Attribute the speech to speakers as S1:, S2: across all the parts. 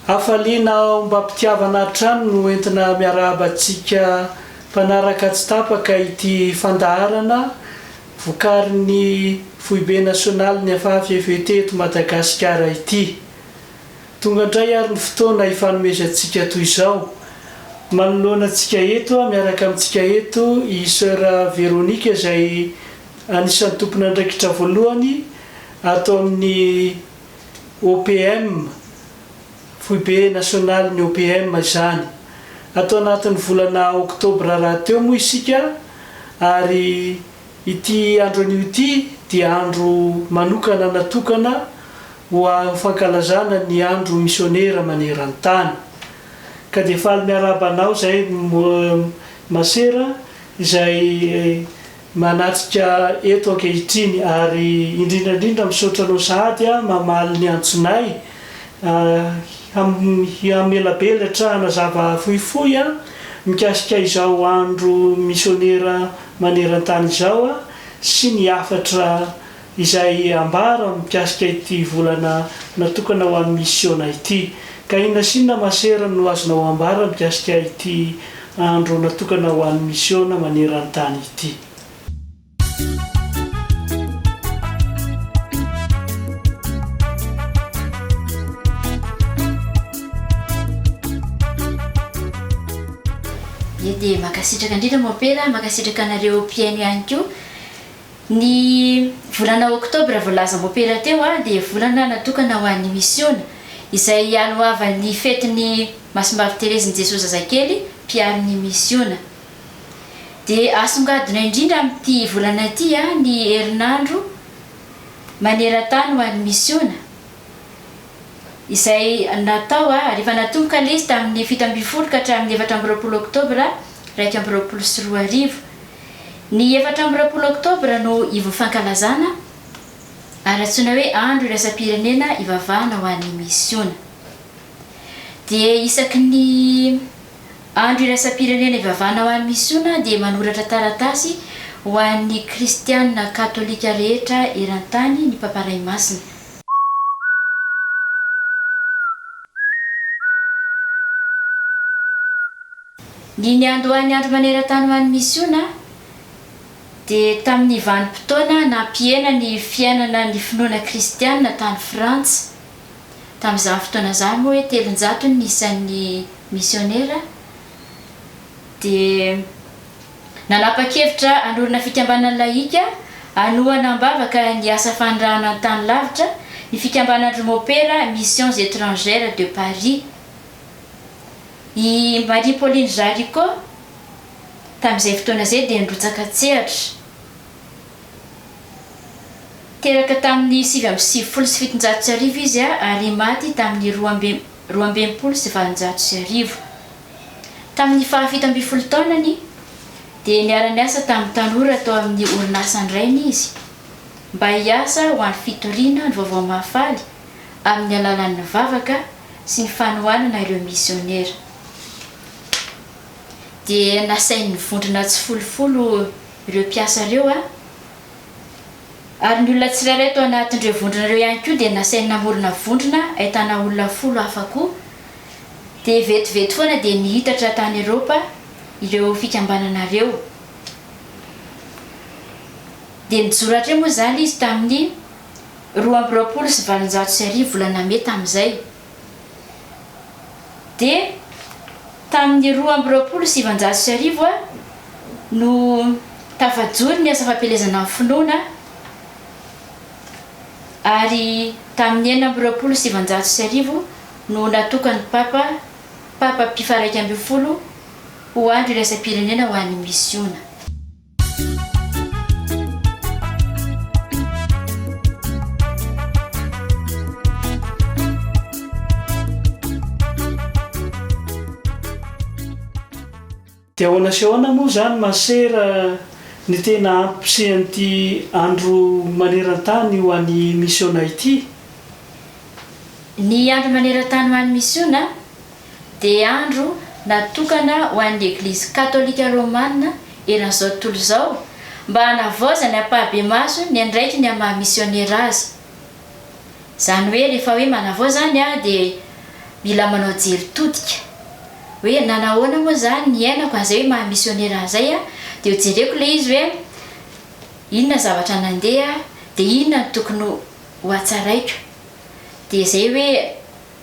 S1: Hafaliana ombam-pitiavana hatrany no entina miarahaba antsika mpanaraka tsy tapaka ity fandaharana vokarin'ny Foibe Nasionalin'ny FAFFT eto Madagasikara ity. Tonga indray ary ny fotoana hifanomezantsika toy izao. Manoloana antsika eto, miaraka amintsika eto i Soeur Véronique izay anisan'ny tompon'andraikitra voalohany ato amin'ny OPM, Foibe Nasionalin'ny OPM izany. Ato anatin'ny volana Oktobra rahateo moa isika ary Ity andro anio ity dia andro manokana natokana ho aho fankalazana ny andro misionera maneran-tany. Ka dia faly miarahaba anao izay masera izay manatrika eto ankehitriny ary indrindra indrindra misaotra anao sahady mamaly ny antsonay Hihamelabelantrahana zava fohifohy mikasika izao andro misionera maneran-tany izao sy ny hafatra izay ambara mikasika ity volana natokana ho an'ny misiona ity. Ka inona sy inona masera no azonao ambara mikasika ity andro natokana ho an'ny misiona maneran-tany ity?
S2: Ye dia mankasitraka indrindra Mompera, mankasitraka anareo mpihaino ihany koa. Ny volana oktobra voalaza Mompera teo dia volana natokana ho an'ny misiona, izay hialohavan'ny fetin'ny Masimbavy Terezin'i Jesoa Zazakely, mpiaro ny misiona. dia asongadina indrindra amin'ity volana ity ny herinandro maneran-tany ho an'ny misiona, izay natao ary efa natomboka ilay izy tamin'ny fito ambin'ny folo ka hatramin'ny efatra amby roapolo oktobra iraika amby roapolo sy roa arivo. Ny efatra amby roapolo oktobra no ivon'ny fankalazana, ary antsoina hoe andro iraisam-pirenena ivavahana ho an'ny misiona. Dia isaky ny. Andro iraisam-pirenena ivavana ho an'ny misiona dia manoratra taratasy ho an'ny kristiana katolika rehetra eran-tany ny Papa Ray Masina. Ny niandohan'ny Andro maneran-tany ho an'ny misiona dia tamin'ny vanim-potoana nampihena ny fiainana ny finoana kristiana tany Frantsa. Tamin'izany fotoana izany moa hoe telonjato ny isan'ny misionera dia nanapa-kevitra hanorina fikambanana lahika hanohana am-bavaka ny asa fanirahana ny tany lavitra ny fikambanan-dry Mopera Missions Etrangères de Paris. I Marie-Pauline Jaricot tamin'izay fotoana izay dia nirotsaka an-tsehatra. Teraka tamin'ny sivy amby sivifolo sy fitonjato sy arivo izy ary maty tamin'ny roa amby roa amby enimpolo sy valonjato sy arivo. Tamin'ny fahafito ambin'ny folo taonany, dia niara-niasa tamin'ny tanora tao amin'ny orinasan-drainy izy mba hiasa ho an'ny fitoriana ny Vaovao Mahafaly amin'ny alalan'ny vavaka sy ny fanohanana ireo misionera. Dia nasain'ny vondrona tsifolofolo ireo mpiasa ireo a! Ary ny olona tsirairay tao anatin'ireo vondrona ireo ihany koa dia nasainy namorona vondrona ahitana olona folo hafa koa. Dia vetivety foana dia nihitatra tany Eropa ireo fikambanana ireo. Dia nijoro hatremoa izany izy tamin'ny roa amby roapolo sy valonjato sy arivo volana Mey tamin'izay. dia tamin'ny roa amby roapolo sy sivinjato sy arivo no tafajoro ny asa fampielezana ny finoana ary tamin'ny enina amby roapolo sy sivinjato sy arivo no natokan'ny Papa Papa Pio faha iraika ambin'ny folo ho andro iraisam-pirenena ho an'ny misiona.
S1: Dia ahoana sy ahoana moa izany masera ny tena hampisehan'ity Andro maneran-tany ho an'ny misiona ity? Ny
S2: Andro maneran-tany ho an'ny misiona dia andro natokana ho an'ny Eglizy Katolika Romana eran'izao tontolo izao mba hanavaozany ampahibemaso ny andraikiny amin'ny maha misionera azy. Izany hoe rehefa hoe manavao izany dia mila manao jery todika hoe nanahoana moa izany ny iainako an'izay hoe maha misionera an'izay dia ho jereko ilay izy hoe inona ny zavatra nandeha dia inona no tokony ho hatsaraiko dia izay hoe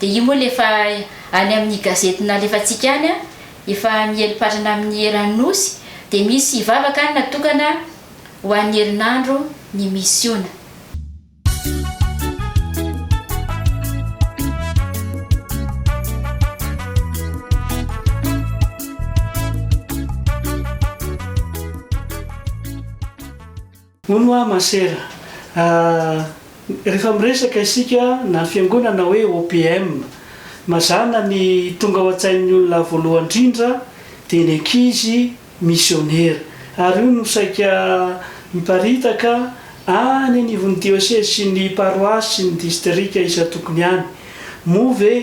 S2: Dia io moa le efa any amin'ny gazety nalefantsika any an, efa miely patrana amin'ny eran'ny Nosy, dia misy vavaka any natokana ho an'ny herinandro ny misiona.
S1: Hono hoa masera a! Rehefa miresaka isika na fiangonana hoe OPM, mazàna ny tonga ao an-tsain'ny olona voalohany indrindra dia ny ankizy misionera. Ary io no saika miparitaka any anivon'ny diosezy sy ny paroasy sy ny distrika isan-tokony any. Moa ve.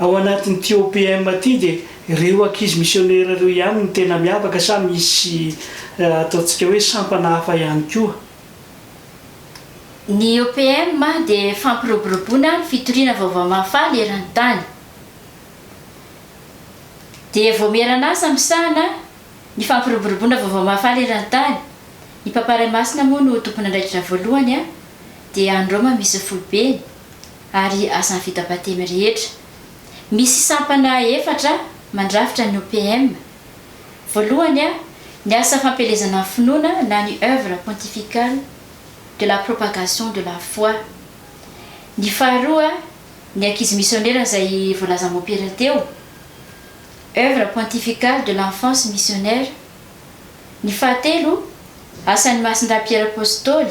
S1: Ao anatin'ity OPM ity dia ireo ankizy misionera ireo ihany no tena miavaka sa misy ataontsika hoe sampana hafa ihany koa?
S2: Ny OPM dia fampiroboroboana ny fitoriana vaovao mahafaly eran-tany. Dia vaomieran'asa misahana ny fampiroboroboana vaovao mahafaly eran-tany. Ny Papa Ray Masina moa no tompon'andraikitra voalohany dia any Roma misy foibeny. ary asan'ny vita batemy rehetra. Misy sampana efatra mandrafitra ny OPM. Voalohany, ny asa fampielezana ny finoana na ny Œuvre pontificale de la propagation de la foi. Ny faharoa, ny ankizy misionera izay voalaza mompera teo, Œuvre pontificale de l'enfance missionnaire. Ny fahatelo, asan'i Masindahy Piera Apostoly.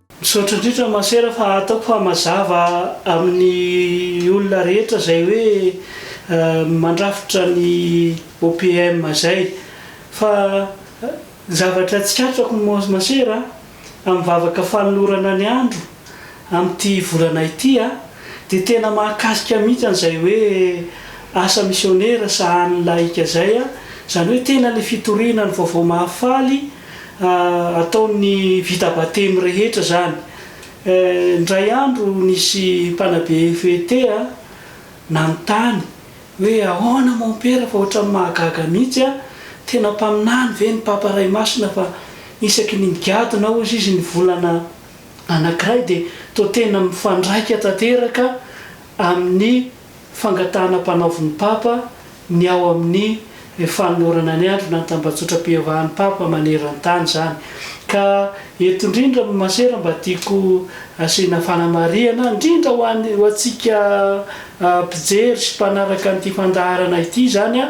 S1: Misaotra indrindra Masera fa ataoko fa mazava amin'ny olona rehetra zay hoe mandrafitra ny OPM zay. Fa zavatra tsikatrako Masera a, amin'ny vavaka fanolorana ny andro amin'ity volana ity a, dia tena mahakasika mihitsy an'izay hoe asa misionera sahanin'ny lahika zay a, zany hoe tena le fitoriana ny vaovao mahafaly Ataon'ny vita batemy rehetra izany. Indray andro nisy mpanabe FET nanontany hoe ahoana mompera fa ohatran'ny mahagaga mihitsy an, tena mpaminany ve ny Papa Ray Masina fa isaky ny migadona hozy izy ny volana anakiray dia toa tena mifandraika tanteraka amin'ny Fangatahana ampanaovin'ny Papa ny ao amin'ny fanolorana ny androny any tambajotram-piavahan'ny Papa maneran-tany izany. Ka eto indrindra amin'ny masera mba tiako asiana fanamarihana, indrindra ho an'ny ho antsika mpijery sy mpanaraka an'ity fandaharana ity izany,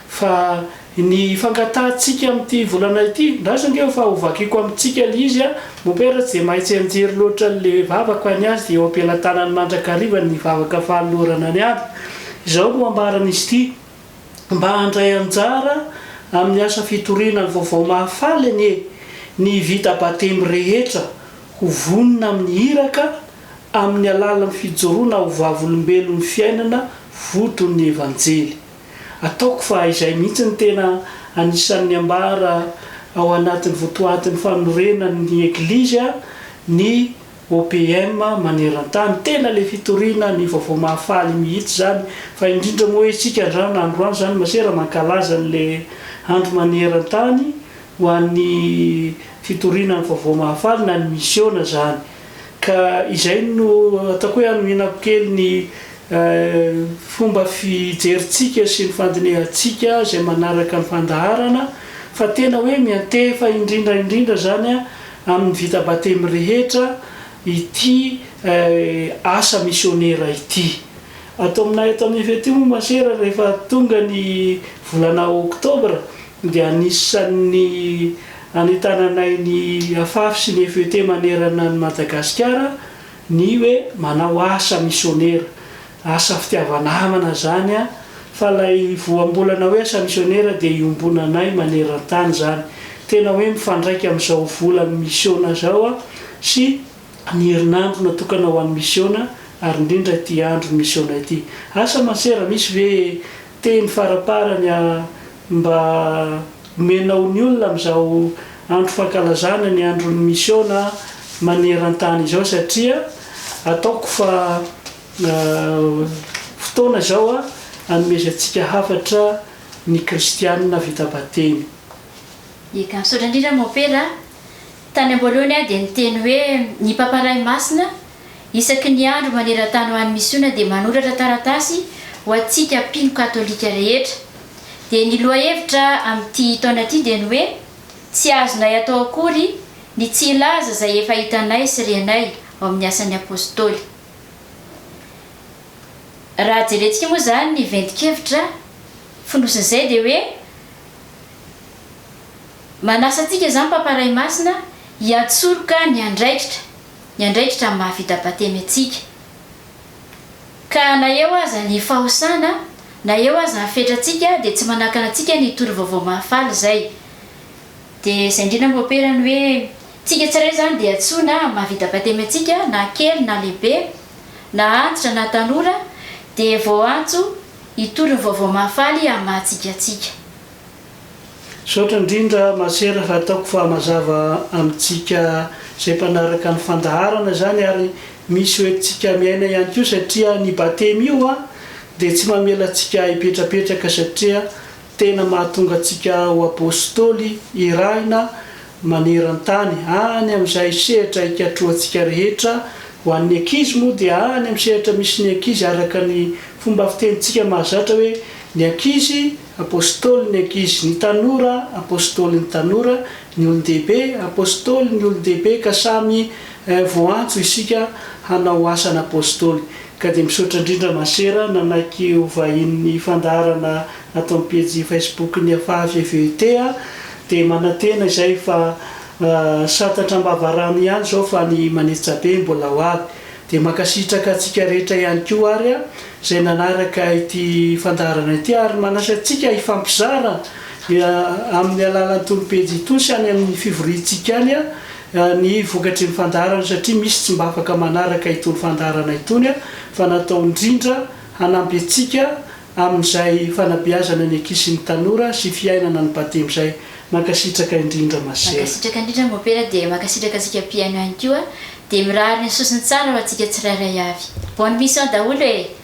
S1: fa. Ny fangatahantsika amin'ity volana ity, ndraso ange fa ho vakiko amintsika le izy a! Mompera tsy dia mahay tsy hianjery loatra le vavaka any azy eo am-pelatanany mandrakariva ny vavaka fanolorana ny ady. Izao no ambaran'izy ity, Mba handray anjara amin'ny asa fitoriana ny vaovao mahafaly anie ny vita batemy rehetra ho vonona amin'ny iraka amin'ny alalan'ny fijoroana ho vavolombelon'ny fiainana voton'ny Evanjely. Ataoko fa izay mihitsy no tena anisan'ny ambara ao anatin'ny votoatin'ny fanorenan'ny Eglizy ny OPM maneran-tany. Tena le fitoriana ny vaovao mahafaly mihitsy izany. Fa indrindra moa hoe isika androany androany izany masera mankalaza an'le andro maneran-tany ho an'ny fitoriana ny vaovao mahafaly na ny misiona izany. Ka izay no ataoko hoe hanohinako kely ny fomba fijerintsika sy ny fandinihantsika izay manaraka ny fandaharana fa tena hoe miantefa indrindra indrindra izany amin'ny vita batemy rehetra ity asa misionera ity. Ato aminay ato amin'ny FETU moa Masera rehefa tonga ny volana oktobra dia anisan'ny Anentananay ny Afafy sy ny FET manerana an'i Madagasikara ny hoe manao asa misionera. Asa fitiava-namana izany an! Fa ilay voambolana hoe asa misionera dia iombonanay maneran-tany izany. Tena hoe mifandraika amin'izao volan'ny misiona izao sy ny herinandro natokana ho an'ny misiona ary indrindra ity andron'ny misiona ity. Asa masera, misy ve teny faraparany? Mba omenao ny olona amin'izao andro fankalazana ny andron'ny misiona maneran-tany izao satria ataoko fa fotoana izao anomezantsika hafatra ny kristianina vita batemy. Eka,
S2: misaotra indrindra Mompera a. Tany am-boalohany aho dia niteny hoe ny Papa Ray Masina, Isaky ny andro maneran-tany ho an'ny misiona dia manoratra taratasy ho antsika mpino katolika rehetra. Dia ny lohahevitra amin'ity taona ity dia ny hoe, Tsy azonay atao akory ny tsy hilaza izay efa hitanay sy renay ao amin'ny Asan'ny Apôstôly. Raha jerentsika moa izany ny ventin-kevitra fonosin'izay dia hoe, manasa antsika izany Papa Ray Masina hiantsoroka ny andraikitra, ny andraikitra amin'ny maha vita batemy antsika. Ka na eo aza ny fahosana, na eo aza ny fetrantsika dia tsy manakana antsika ny hitory vaovao mahafaly izay. Dia izay indrindra no aperany hoe, tsika tsirairay izany dia antsoina amin'ny maha vita batemy antsika, na kely na lehibe, na antitra na tanora, dia voaantso hitory ny vaovao mahafaly amin'ny maha tsika antsika.
S1: Misaotra indrindra Masera fa ataoko fa mazava amintsika izay mpanaraka ny fandaharana izany ary misy ho entintsika miaina ihany koa satria ny Batemy io an dia tsy mamela antsika hipetrapetraka satria tena mahatonga antsika ho Apôstôly irahina maneran-tany any amin'izay sehatra hikatrohantsika rehetra ho an'ny ankizy moa dia any amin'ny sehatra misy ny ankizy araka ny fomba fitenintsika mahazatra hoe ny ankizy Apôstôly ny ankizy, ny tanora, Apôstôly ny tanora, ny olon-dehibe, Apôstôly ny olon-dehibe, ka samy voantso isika hanao asan'Apôstôly. Ka dia misaotra indrindra Masera nanaiky ho vahinin'ny fandaharana ato amin'ny pejy Facebook ny Afaha VVET a! Dia manantena izay fa santatra am-bavarano ihany izao fa ny Manetsabe mbola ho avy. Dia mankasitraka antsika rehetra ihany koa ary izay nanaraka ity fandaharana ity ary manasa antsika hifampizara amin'ny alalan'ny tolopejy itony sy any amin'ny fivoriantsika any ny vokatry ny fandaharana satria misy tsy mba afaka manaraka itony fandaharana itony fa natao indrindra hanampy antsika amin'izay fanabeazana ny ankizy sy ny tanora sy fiainana ny batemy izay. Mankasitraka indrindra ma sœur. Mankasitraka indrindra Mopera
S2: dia mankasitraka antsika mpihaino ihany koa dia mirary ny sosony tsara ho antsika tsirairay avy. Bonne mission daholo e!